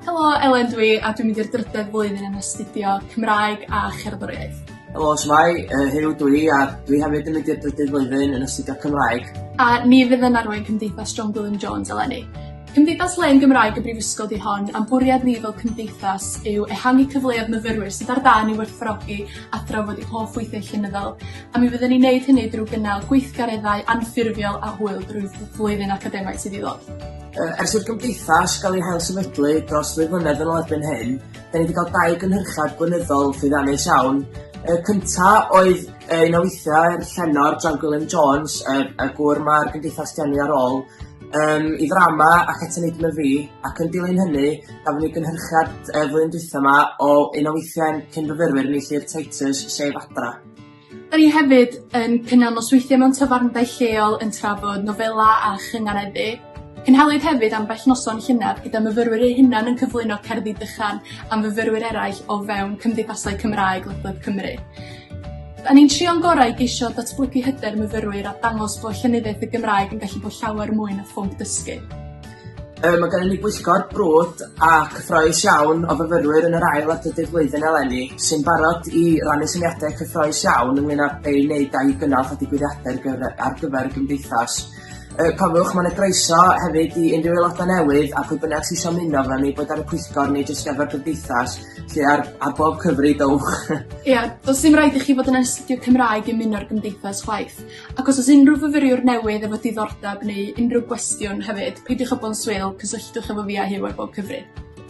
Helo Elen dw i a dwi'n mynd i'r drydedd flwyddyn yn astudio Cymraeg a Cherddoriaeth. Helo shwmae yy Huw dw i a dwi hefyd yn mynd i'r drydydd flwyddyn yn astudio Cymraeg. A ni fydd yn arwain Cymdeithas John Gwilym Jones eleni. Cymdeithas Len Gymraeg y Brifysgol 'di hon, a'n bwriad ni fel cymdeithas yw ehangu cyfleodd myfyrwyr sydd ar dân i werthfawrogi a thrafod eu hoff weithiau llenyddol, a mi fyddwn ni'n neud hynny drwy gynnal gweithgareddau anffurfiol a hwyl drwy fy- flwyddyn academaidd sydd i ddod. Yy ers i'r gymdeithas gael ei hailsefydlu dros ddwy flynedd yn ôl erbyn hyn, da ni wedi cael dau gynhyrchiad blynyddol llwyddiannus iawn. Y cynta oedd yy un o weithiau Llenor, John Gwilym Jones, yy y gŵr ma'r gymdeithas 'di enwi ar ôl, um, i ddrama ac at y nidm y fi, ac yn dilyn hynny, gafon ni gynhyrchiad uh, flwyddyn dwytha yma o un o weithiau'n cyn fyfyrwyr ni lli'r Titus Sef Adra. Da ni hefyd yn cynnal nosweithiau mewn tafarndai lleol yn trafod nofela a chynganeddu. Cynhaliwyd hefyd am bell noson llynedd gyda myfyrwyr eu hunan yn cyflwyno cerddi dychan am fyfyrwyr eraill o fewn cymdeithasau Cymraeg ledled Cymru. 'Dan ni'n trio'n gorau i geisio datblygu hyder myfyrwyr a dangos bod llenyddiaeth y Gymraeg yn gallu bod llawer mwy na phwnc dysgu. Yy ma' gennym ni bwyllgor brwd a cyffrous iawn o fyfyrwyr yn yr ail a drydydd flwyddyn eleni sy'n barod i rannu syniadau cyffrous iawn ynglŷn â be' i wneud â'i gynnal a digwyddiadau ar gyfer y gymdeithas. Yy cofiwch ma' 'na groeso hefyd i unrhyw aeloda' newydd a phwy bynnag sy isio ymuno efo ni boed ar y pwyllgor neu jyst efo'r gymdeithas 'lly ar ar bob cyfri dowch. Ia do's dim raid i chi fod yn astudio Cymraeg i ymuno'r gymdeithas chwaith. Ac os o's unrhyw fyfyriwr newydd efo diddordab neu unrhyw gwestiwn hefyd peidiwch â bo'n swil cysylltwch efo fi a Huw ar bob cyfri.